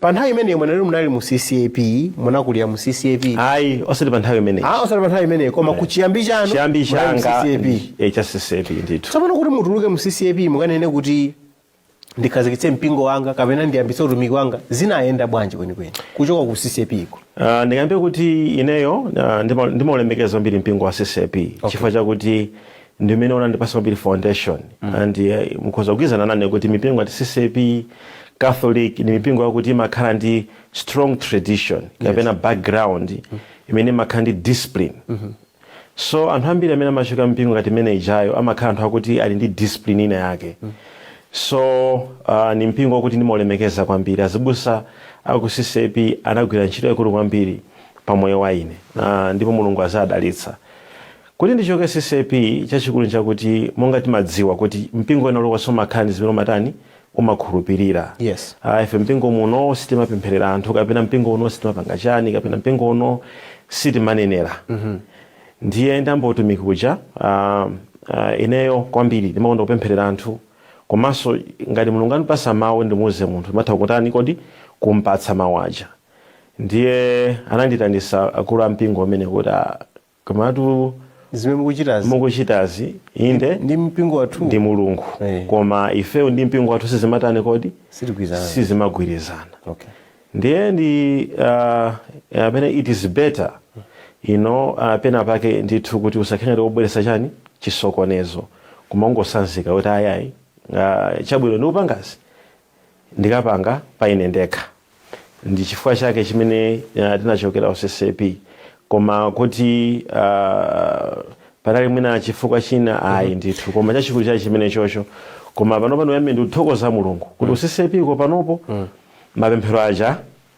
pa nthawi imeneyo mwanena ili munali mu ccap munakulira mu ccap ayi osati pa nthawi imeneyo Ah, osati pa nthawi imeneyo koma ku chiyambi chanu chiyambi munali mu changa ccap eh, cha ccap ndithu tsopano kuti mutuluke mu ccap mukanene kuti ndikhazikitse mpingo wanga kapena ndiyambitse utumiki wanga zinayenda bwanji kwenikweni kuchoka ku ccap iko Ah, ndingakambe kuti ineyo ah, ndima- ndimaulemekeza kwambiri mpingo wa ccap chifukwa chakuti ndimene unandipatsa kwambiri foundation mm. and uh, mukhoza kugwirizana nane kuti mipingo ngati ccap catholic ni mipingo yakuti imakhala ndi strong tradition kapena yes. background mm. imene imakhala ndi discipline mm -hmm. so anthu ambiri amene amachoka mpingo ngati imene ijayo amakhala anthu akuti ali ndi discipline ina yake mm. so uh, ni mpingo wakuti ndimalemekeza kwambiri azibusa aku ccap anagwira ntchito yaikulu kwambiri pa moyo wa ine uh, ndipo mulungu aziwadalitsa Kuti ndichoke ccap chachikulu nchakuti monga tikudziwa kuti mpingo wina uliwonse umakhala ndi zimene umatani umakhulupirira Yes. ah ife mpingo muno sitimapempherera anthu kapena mpingo uno sitimapanga chani kapena mpingo uno sitimanenera ndiye nditayamba utumiki uja ah, ah, ineyo kwambiri ndimakonda kupempherera anthu komanso ngati mulungu andipatsa mawu ndimuuze munthu ndimatha kutani kodi kumpatsa mawu aja ndiye anandiitanitsa akulu a mpingo amvekere kuti ah, Komatu zimene mukuchitazi inde ndi mpingo wathu ndi mulungu Eh. koma ifeyo ndi mpingo wathu sizimatani kodi sizimagwirizana okay ndiye ndi uh, amene it is better you know uh, pena pake ndithu kuti usakhale ngati wobweretsa chani chisokonezo koma ungotsanzika kuti ayayi uh, chabwino ndikupangazi ndikapange pa ine ndekha ndi chifukwa chake chimene uh, tinachokera ku ccap koma kuti uh, panali mwina chifukwa china ayi ndithu koma chachikulu chake ndi chimenecho koma pano pano amene ndikuthokoza mulungu kuti ccap ko panopo mapemphero aja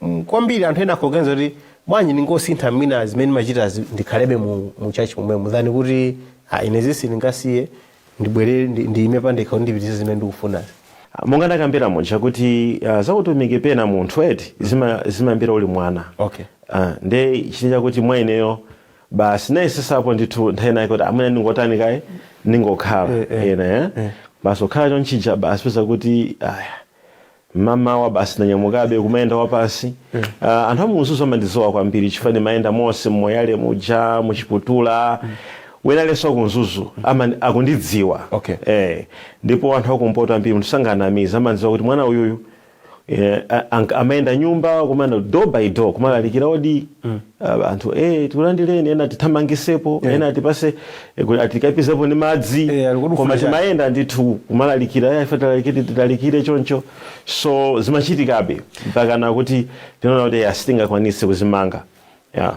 mm, kwambiri anthu ena akuganiza kuti bwanji ndingosintha mwina zimene ndimachitazi ndikhalebe mu, mu church momwemo than kuti ah, ine izi sindingasiye ndibwerere ndi- ndiime pandekha kuti ndipitirize zimene ndikufunazi monga ndakambira muja kuti uh, zakutumiki pena munthu eti zima- zimayambira uli mwana okay Ah, nde chinthu chakuti mwa ineyo basi ndayesetsapo ndithu nthawi zina kuti amene ndingotani kaye ndingokhala Eh, eh, ena eh. basi kukhala chonchi uja basi kupeza kuti aya mmamawa basi ndanyamukabe kumayenda wapansi uh, anthu a mu mzuzu amandidziwa kwambiri chifukwa ndimayenda monse m'moyale muja mu chiputula ena enanso a ku mzuzu amani- akundidziwa Okay. eh, ndipo anthu akumpoto ambiri munthu sanganamize amandidziwa kuti mwana uyuyu eh, a- anka- amayenda nyumba kuma nyumba door by door kumalalikira odi Ah, anthu eh tikulandireni ena tithamangisepo Yeah. ena atipatse eh, kuti atikapizepo ndi madzi Eh, ali kodi koma ufuna timayenda ndithu kumalalikira aya ife tilalikire tilalikire choncho so zimachitikabe mpaka nakuti tinaona kuti eh, sitingakwanise kuzimanga yeah.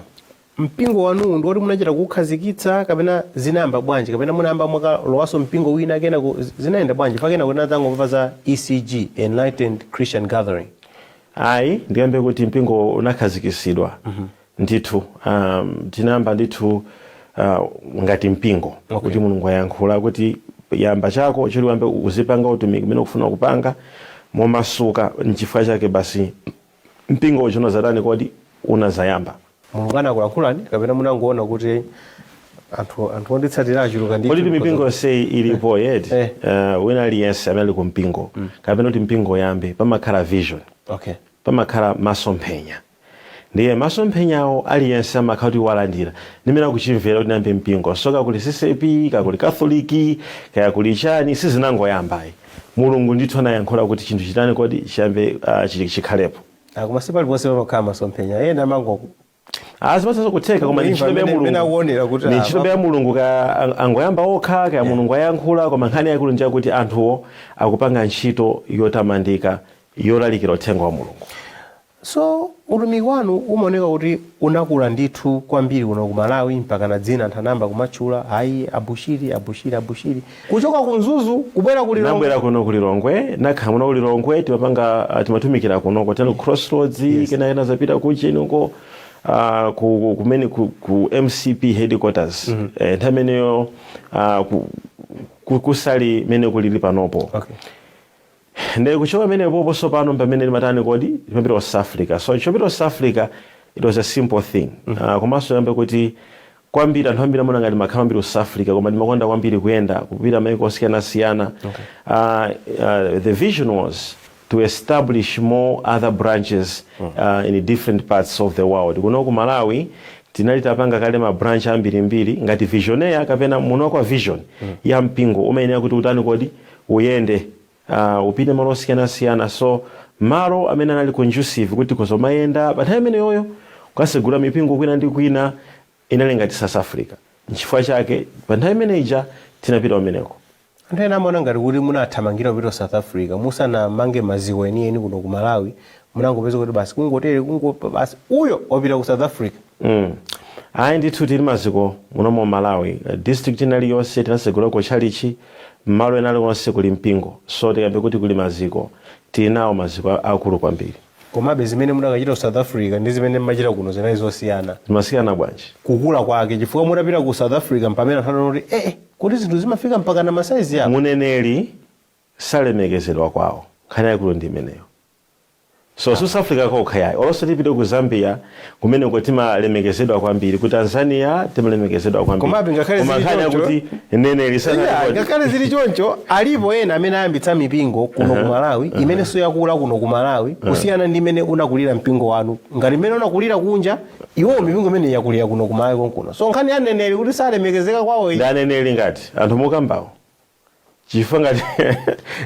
mpingo wanuwu ndi woti munachita kukhazikitsa kapena zinayamba bwanji kapena munayamba mwakalowanso mpingo wina kenako zinayenda bwanji pakana kuti tinadzangomva za ecg enlightened christian gathering Ayi, ndikambe kuti mpingo unakhazikitsidwa ndithu um, tinayamba ndithu uh, ngati mpingo okay. kuti mulungu ayankhula kuti yamba chako choti uyambe uzipanga utumiki umene ukufuna kupanga momasuka nchifukwa chake basi mpingo uja unadzatani kodi unadzayamba mulungu anakulankhulani kapena munangoona kuti anthu anthu onditsatira achuluka ndithu kuti mipingo yonseyi ilipo yeti Eh. uh, wina aliyense amene ali ku mpingo kapena kuti mpingo uyambe pamakhala vision okay pamakhala masomphenya ndiye masomphenyawo aliyense amakhala kuti walandira ndimene akuchimvera kuti ndiyambe mpingo so kaya kuli ccap kaya kuli katolika kaya kuli chani sizinangoyamba ayi mulungu ndithu anayankhula kuti chinthu chitani kodi chiyambe uh, chi- chikhalepo Ah, koma si paliponse pamakhala masomphenya ena amango Ah, zimathanso kutheka koma ndi ntchitobe ya amene- amene akuonera kuti mulungu ndi ah, ntchito ya mulungu kaya ang- angoyamba okha kaya mulungu ayankhula koma nkhani yaikulu ndi yakuti anthuwo akupanga ntchito yotamandika yolalikira uthenga wa mulungu so utumiki wanu umaoneka kuti unakula ndithu kwambiri kuno ku malawi mpaka na dzina anthu anayamba kumatchula ayi abushiri abushiri abushiri Kuchoka ku Mzuzu kubwera ku Lilongwe. Nabwera kuno ku Lilongwe, nakhala muno ku Lilongwe timapanga uh, timatumikira kuno kotero ku Crossroads yes. kena kenaka nzapita ku chini uko uh, ku kumene ku, ku MCP headquarters mm -hmm. eh, nthawi imeneyo uh, ku, ku, kusali mmene kulili panopo okay. Ndiye kuchoka pamenepopo tsopano mpamene timatani kodi? Timapita ku South Africa. So chopita ku South Africa it was a simple thing. Ah, komanso ndikambe kuti kwambiri anthu ambiri amaona ngati ndimakhala kwambiri ku South Africa koma ndimakonda kwambiri kuyenda kupita maiko osiyanasiyana. Ah, ah, the vision was to establish more other branches uh, in different parts of the world. Kuno ku Malawi tinali tapanga kale ma branch ambirimbiri ngati visionaire kapena mwini wa vision ya mpingo umayenera kuti utani kodi uyende uh upite malo osiyanasiyana so malo amene anali conducive kuti tikhoza kumayenda pa nthawi imeneyoyo kukasegula mipingo kwina ndi kwina inali ngati south africa nchifukwa chake pa nthawi imene ija tinapita kumeneko Anthu ena amaona ngati kuti munathamangira kupita ku South Africa musanamange maziko enieni kuno ku Malawi munangopeza kuti basi kungotere basi uyo wapita ku south africa Mm. ayi ndithu tili maziko muno mu malawi Eh, district ina iliyonse tinasegulako tchalichi mmalo ena aliwonse kuli mpingo so tikambe kuti kuli maziko tili nawo maziko a- akulu kwambiri komabe zimene mudakachita ku south africa ndi zimene mmachita kuno zinali zosiyana zimasiyana bwanji kukula kwake chifukwa mutapita ku south africa mpamene anthu anaona kuti ee kuti zinthu zimafika mpaka na masaizi yawo muneneri salemekezedwa kwawo nkhani yaikulu ndi imeneyo so south africa kokha yayi olonso tipite ku zambia kumenenso timalemekezedwa kwambiri ku tanzania timalemekezedwa kwambiri Komabe ngakhale zili choncho- kuti mneneri Yeah, sana- ngakhale zili choncho alipo ena amene ayambitsa mipingo kuno ku malawi imenenso yakula kuno ku malawi kusiyana ndi mmene unakulira mpingo wanu ngati mmene unakulira kunja iwo mipingo imene yakulira kuno ku malawi konkuno so nkhani ya mneneri kuti salemekezeka kwawo iyi. ndi aneneri ngati anthu mukambawo chifukwa ngati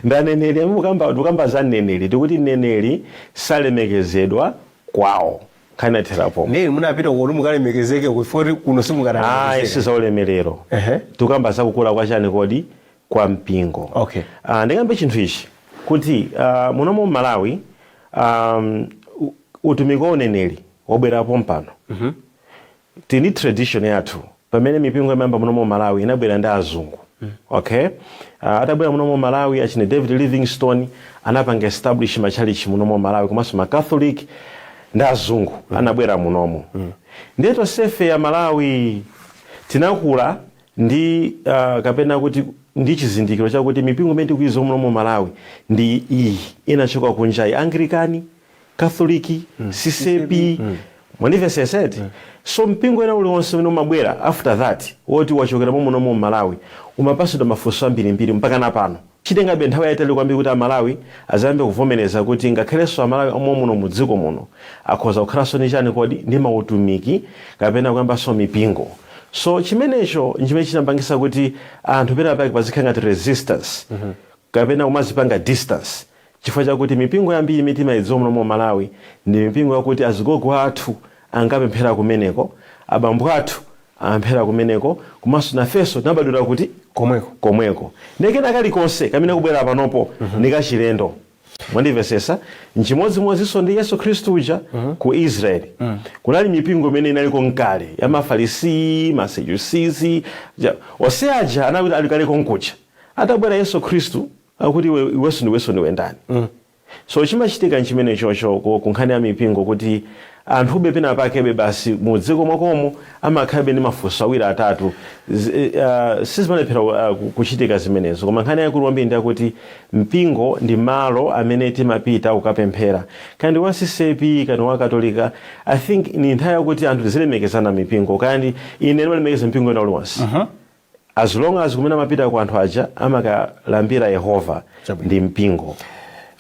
ndi aneneri mukamba tikukamba za mneneri tikuti mneneri salemekezedwa kwawo nkhani yathera pomwe ndiye inu munapita kuti mukalemekezeke uko foti kuno ayi simukalemekezeka si za ulemerero Ehe. tikukamba za kukula kwa chani kodi kwa mpingo Okay. Ah, ndikambe chinthu ichi kuti ah, muno mu malawi um, u- utumiki wa uneneri wabwerapo mpano tili ndi tradition yathu pamene mipingo imayamba munomo mmalawi inabwera ndi azungu ok atabwera munomo mmalawi achina david livingstone anapanga establish matchalitchi munomo mmalawi komanso ma catholic ndi azungu anabwera munomo ndiye tonsefe amalawi tinakula ndi ah, kapena kuti ndi chizindikiro chakuti mipingo imene tikuidziwa munomo mmalawi ndi iyi inachoka kunjayi anglican catholic ccap mwandimvesesa eti so mpingo wina uliwonse umene umabwera after that woti wachokera momunomo mmalawi umapasidwa mafunso ambirimbiri mpakana pano chitengabe nthawi yaitali kwambiri kuti amalawi azayambe kuvomereza kuti ngakhalenso amalawi omwemuno mudziko muno akhoza kukhalanso ndi chani kodi ndi mautumiki kapena kuyambanso mipingo so chimenecho nchimene chinapangisa kuti anthu penapake pazikhala ngati resistance kapena kumazipanga distance Chifukwa chakuti mipingo yambiri imene timaidziwa muno mu Malawi ndi mipingo yakuti azigogo athu ankapemphera kumeneko, abambo athu amapemphera kumeneko komanso nafenso tinabadwira kuti? Komweko. Komweko. Ndiye kena kalikonse kamene kubwera panopo ndi kachilendo. Mwandimvetsetsa? N'chimodzimodzinso ndi Yesu Khristu uja ku Israel. Kunali mipingo imene inaliko n'kale ya Mafarisii, Masadusizi. Onse aja anali ali kale konkuja. Atabwera Yesu Khristu Akuti iwe iwenso ndiwenso ndiwe ndani? So chimachitika nchimenechocho ku, ku nkhani ya mipingo kuti anthube pena pakebe basi mu dziko mwakomo amakhalabe ndi mafunso awiri atatu Z, uh, sizimalephera uh, ku- kuchitika zimenezo koma nkhani yaikulu kwambiri ndi yakuti mpingo ndi malo amene timapita kukapemphera kaya ndi wa ccap kaya ndi wa katolika i think ni nthawi yakuti anthu tizilemekezana mipingo kaya ndi ine ndimalemekeza mpingo wina uliwonse as long as kumene amapitako anthu aja amakalambira yehova Chabwino. ndi mpingo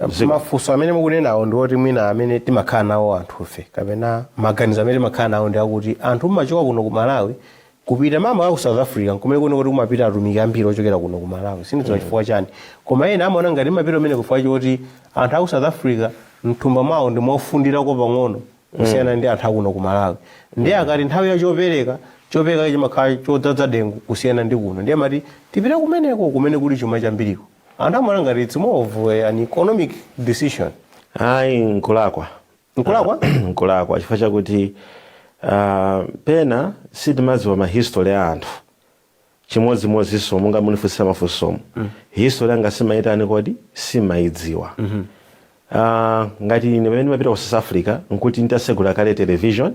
Zikomo. mafunso amene mukunenawo ndi oti mwina amene timakhala nawo anthufe kapena maganizo amene timakhala nawo ndi akuti anthu mumachoka kuno ku malawi kupita mama ku south africa nkumene kuno kukuti kumapita atumiki ambiri ochokera kuno ku malawi sindidziwa chifukwa chani koma ena amaona ngati mumapita kumene kufika choti anthu aku south africa mthumba mwawo ndi mofundirako pang'ono kusiyana ndi anthu akuno ku malawi ndiye akati nthawi ya chopereka chopereka chimakhala chodzadza dengu kusiyana ndi kuno ndiye amati tipita kumeneko kumene kuli chuma chambiriko anthu amaona ngati it's more of eh, an economic decision ayi nkulakwa Nkulakwa? Ah, nkulakwa chifukwa chakuti ah, pena sitimadziwa mahistory a anthu chimodzimodzinso monga munifunsira mafunsomu history yanga simumaitani kodi simumaidziwa Ah, ngati ine pamene ndimapita ku south africa nkuti nditasegula kale television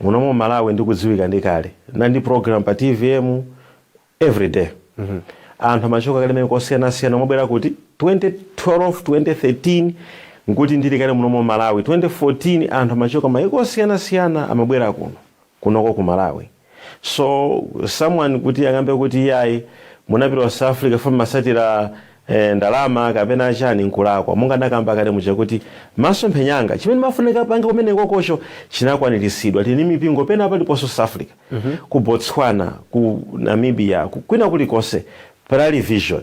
muno m'malawi ndikudziwika ndi kale nnali ndi program pa tvm everyday anthu amachoka kale mene kosiyanasiyana amabwera kuti 2012 2013 nkuti ndili kale muno m'malawi 2014 anthu amachoka maiko osiyanasiyana amabwera kuno kunoko ku malawi so someone kuti akambe kuti iyayi munapita ku south africa mumatsatira eh, ndalama kapena chani nkulakwa monga ndakamba kale muja kuti masomphenya anga chimene ndimafunika kupanga kumenekokocho chinakwaniritsidwa tili ndi mipingo pena paliponso south africa ku botswana ku namibia ku, kwina kulikonse panali vision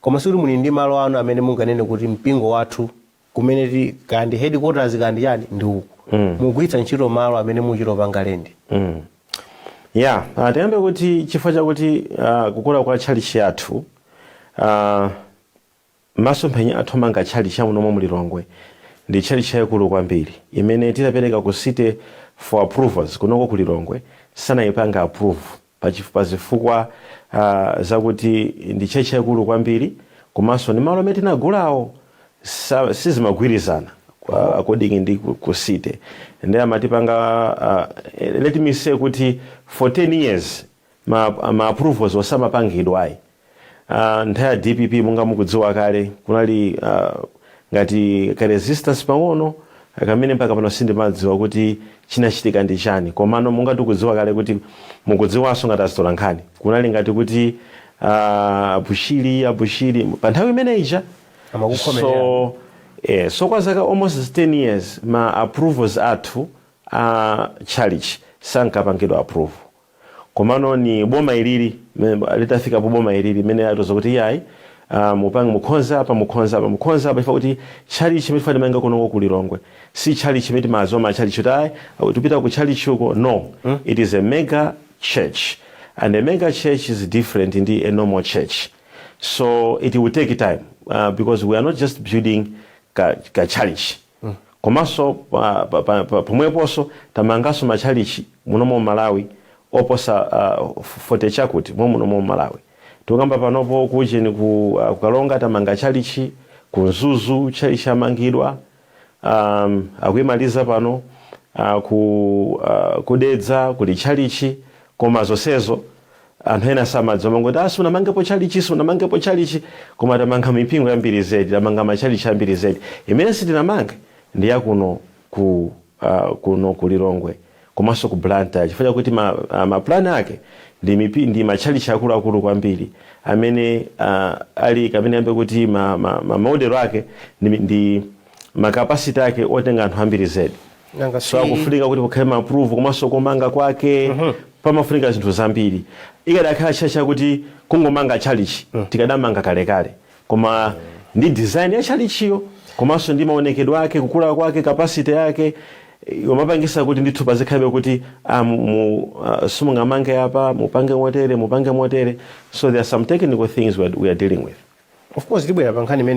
Koma sikuti muli ndi malo anu amene munganene kuti mpingo wathu kumene tili kaya ndi headquarters kaya ndi chani ndi uku. Mukugwiritsa ntchito malo amene mukuchita kupanga lendi. Ya, ah, tiyambe kuti chifukwa chakuti ah, kukula kwa tchalitchi yathu ah, masomphenya athu omanga tchalitchi ya muno mu Lilongwe ndi tchalitchi yaikulu kwambiri imene titapereka ku city for approvals kunoko ku Lilongwe sanayipanga approve Pachif pazifukwa a zakuti ndi church yaikulu kwambiri komanso ndi malo amene tinagulawo sa sizimagwirizana kwa Oh. according ndi ku ku city nde amatipanga a let me say kuti for 10 years ma ma approvalswo samapangidwa ayi. Uh, nthawi ya dpp monga mukudziwa kale kunali uh, ngati ka resistance pang'ono kamene mpaka pano sindinadziwe kuti chinachitika ndi chani komano monga tikudziwa kale kuti mukudziwanso ngati atola nkhani kunali ngati kuti uh, a Bushiri a Bushiri pa nthawi imene ija amakukhomerera. so, eh, so kwa zaka almost 10 years ma approvals athu a church sankapangidwa approve Komano ni boma ilili, mene, litafika po boma ilili, mene atiuza kuti iyayi, ah, mupange, mukhonza apa, mukhonza apa, mukhonza apa, chifukwa kuti chalichi chimene tifuna timange kunoko ku Lilongwe, si chalichi chimene timadziwa ma chalichi kuti ayi, oh, tipita ku chalichi uko, no, it is a mega church, and a mega church is different ndi a normal church, so it will take time, ah, because we are not just building ka, ka chalichi. Komanso pomweponso tamanganso matchalitchi munomu m'Malawi oposa 40 chakuti mommuno m'Malawi. Tikukamba panopo ku ujeni ku Karonga tamanga tchalitchi, ku Mzuzu tchalitchi yamangidwa, akuimaliza pano, ku Dedza kuli tchalitchi koma zonsezo Anthu ena samadziwa amangoti ah sunamangepo tchalichi sunamangepo tchalichi koma tamanga mipingo yambiri zedi tamanga matchalichi ambiri zedi imene sitinamange ndi ya kuno ku ah, kuno ku Lilongwe komanso ku Blantyre chifukwa chakuti ma, ah, ma plan ake ndi, mipi, ndi matchalichi akuluakulu kwambiri amene ah, ali kapena nkambe kuti ma, ma, ma model ake ndi, ndi ma capacity ake otenga anthu ambiri zedi nanga so si akufunika kuti kukhale maapprove komanso kumanga kwake pamafunika zinthu zambiri ikadakhala church chakuti kungomanga chalichi tikadamanga kalekale koma ndi design ya chalichiyo komanso ndi maonekedwe ake kukula kwake capacity yake eh, yomapangitsa kuti ndithu pazikhalabe kuti ah, mu- mu- ah, simungamange apa mupange motere mupange motere so there are some technical things we are, we are dealing with of course tibwera pa nkhani imene